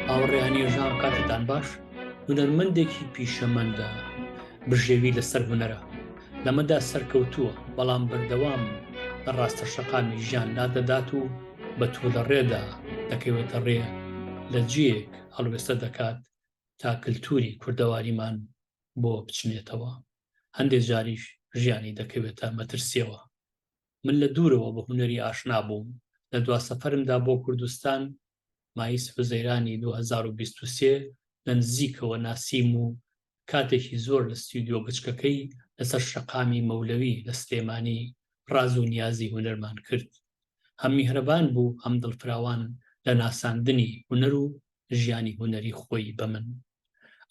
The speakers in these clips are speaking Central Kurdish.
ئاوڕێیانێژان کاتتان باش هونەرمەندێکی پیشەمەندە بژێوی لەسەر هونەرە لەمەدا سەرکەوتووە بەڵام بەردەوام لە ڕاستە شەقامی ژیان نادەدات و بە توو لە ڕێدا دەکەوێتە ڕێ لە جیەک هەڵوێستە دەکات تا کللتوری کوردەواریمان بۆ بچنێتەوە هەندێ جاریش ژیانی دەکەوێتە مەترسیەوە من لە دوورەوە بە هونەری ئاشنا بووم لە دوا سەفەرمدا بۆ کوردستان مایس حوزەیرانی 2023 لە نزیکەوە ناسیم و کاتێکی زۆر لە ستیودیۆ بچکەکەی لەسەر شەقامی مەولەوی لە سلێمانی ڕاز و نیازی هونەرمان کرد هەم میهرەبان بوو هەم دڵفراوان لە ناساندنی هونەر و ژیانی هونەری خۆی بە من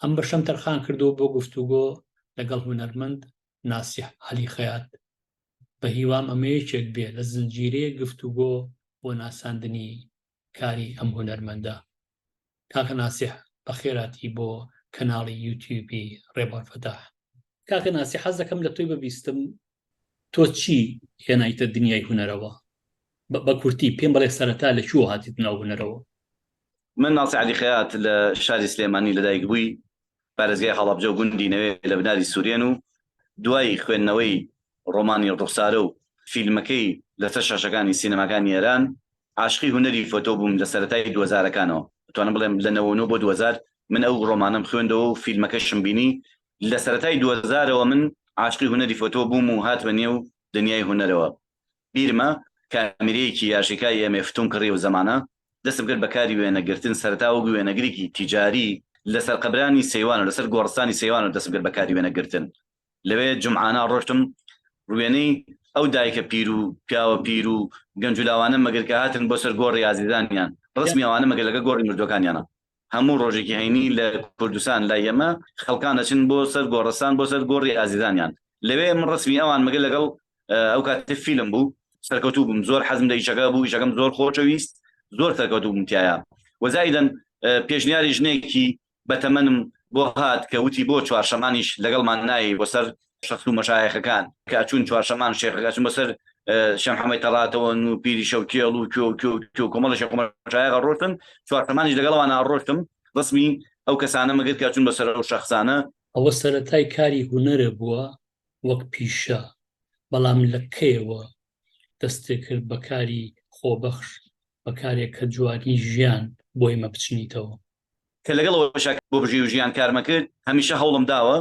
ئەم بەشەم تەرخان کردو بۆ گفتوگۆ لەگەڵ هونەرمەند ناسیح علی خەیات بە هیوام ئەمە یەکێک بێ لە زنجیرەیە گفتوگۆ بۆ ناساندنی کاری ئەم هونەرمەندە کاکە ناسیح بە خێراتی بۆ کەناڵی یوتیوبی ڕێبەر فەتاح کاکە ناسی حەز دەکەم لە تۆی ببیستم تۆ چی هێنایتە دنیای هونەرەوە؟ بە کورتی پێم بڵێ سەرەتا لە کوێوە هاتیت ناو هونەرەوە؟ من ناسی عەلی خەیات لە شاری سلێمانی لەدایکبووی پارێزگای هەڵەبجە و گوندی نەوێ لە بناری سورێن و دوای خوێندنەوەی ڕۆمانی ڕوخسارە و فیلمەکەی لەسەر شاشەکانی سینەماکانی ئێران عاشقی هونەری فۆتۆ بووم لە سەرەتای دوو هەزارەکانەوە دەتوانم بڵێم لە نەوە و نۆ بۆ دوو هەزار من ئەو ڕۆمانەم خوێندەوە و فیلمەکەشم بینی لە سەرەتای دوەزارەوە من عاشقی هونەری فۆتۆ بووم و هاتمە نێو دنیای هونەرەوە بیرمە کامیرەیەکی یاشیکای ئێمێ فتون کڕی ئەو زەمانە دەستم کرد بە کاری وێنە گرتن سەرەتا وەک وێنەگرێکی تیجاری لە سەرقەبرانی سەیوان و لە سەر گۆڕستانی سەیوان و دەستم کرد بە کاری وێنە گرتن لەوێ جومعانە ڕۆشتم وێنەی ئەو دایکە پیر و پیاوە پیر و گەنج و لاوانە مەگەر کە هاتن بۆ سەر گۆڕی ئازیزانیان ڕسمی ئەوانە مەگەر لەگە گۆڕی مردوەکانیانە هەموو ڕۆژێکی هەینی لە کوردستان لای ئێمە خەڵکان دەچن بۆ سەر گۆڕستان بۆ سەر گۆڕی ئازیزانیان لەوێ من ڕسمی ئەوان مەگە لەگەڵ ئەو کاتی فیلم بوو سەرکەوتوو بووم زۆر حەزم لە ئیشەکە بوو ئیشەکەم زۆر خۆشەویست زۆر سەرکەوتوو بووم تایە وەزایدەن پێشنیاری ژنێکی بەتەمەنم بۆ هات کە وتی بۆ چوارشەمانیش لەگەڵمان نایی بۆ سەر شەخس و مەشایەخەکان کە ئەچوون چوارشەمان شێخەکە ئەچوون بەسەر شەم حەمەی تەڕاتەوەن و پیری شەوکێڵ و کێو کێو کێو کۆمەڵە شێخ و مەشایەخە ڕۆشتن چوارشەمانیش لەگەڵەوە ناڕۆشتم ڕسمی ئەو کەسانە مەگرت کە ئەچوون بەسەر ئەو شەخسانە ئەوە سەرەتای کاری هونەرە بووە وەک پیشە، بەڵام لە کەیەوە دەستێ کرد بە کاری خۆبەخش، بە کارێک کە جوانی ژیان بۆی مەبچنیتەوە؟ کە لەگەڵ ئەوەشا کە بۆ بژێوی ژیان کارمە کرد، هەمیشە هەوڵم داوە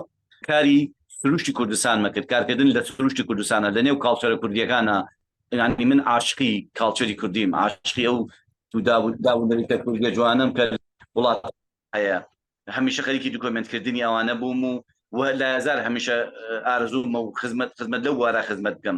کاری سروشتی کوردستانمە کرد، کارکردن لە سروشتی کوردستانە، لەنێو کاڵچەرە کوردییەکانا، یانی من عاشقی کاڵچەری کوردیم، عاشقی ئەو داو و داو و نەریتە کوردییە جوانەم کە لە وڵات هەیە، هەمیشە خەریکی دکۆمێنتکردنی ئەوانە بووم و و لایەزار هەمیشە ئارەزوومە و خزمەت خزمەت لەو بوارە خزمەت بکەم.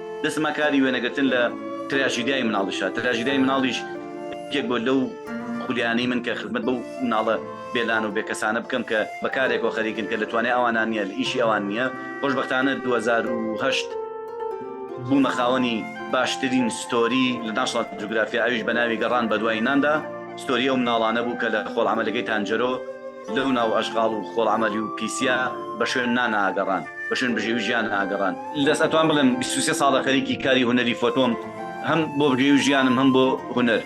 دەچمە کاری وێنەگرتن لە تراژیدیای مناڵیشا، تراژیدیای مناڵیش یەکێک بوو لەو خولیانەی من کە خزمەت بەو مناڵە بێ لان و بێ کەسانە بکەم کە بە کارێکەوە خەریکن کە لە توانای ئەوانان نییە، لە ئیشی ئەوان نییە. خۆشبەختانە دوو هەزار و هەشت بوومە خاوەنی باشترین ستۆری لە ناشناڵ جوگرافیا ئەویش بە ناوی گەڕان بە دوای ناندا، ستۆری ئەو مناڵانە بوو کە لە خۆڵ عەمەلەکەی تانجەرۆ، لەو ناو ئەشغاڵ و خۆڵەمەلی و پیسیە بە شوێن نان ئاگەڕان، بە شوێن بژێوی ژیان ئاگەڕان. دەست ئەتوان بڵێم بیست و سێ ساڵە خەریکی کاری هونەری فۆتۆم، هەم بۆ بژێوی ژیانم هەم بۆ هونەر.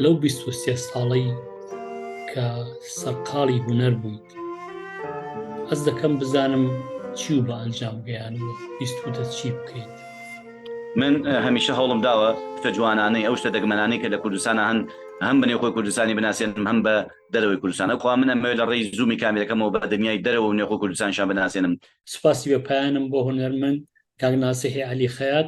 لەو بیست و سێ ساڵەی. کە سەرقاڵی هوەر بوویت ئەس دەکەم بزانم چی و بە ئەنجام گەیانەوە بیستوتە چی بکەیت من هەمیشە هەوڵم داوە شتە جوانانەی ئەو شتە دەگمەنانەی کە لە کوردستانە هەن هەم بنێ خۆی کوردستانی بناسیێنم هەم بە دەرەوەی کوردستانە خوا منە مێ لە ڕێی زوومی کامیرەکەمەوە بە دنیای دەرەوە و نێخۆ کوردستانشان بناسیێنم سپاسی بە پایانم بۆ هوەرمن کاک ناسیحی علی خەیات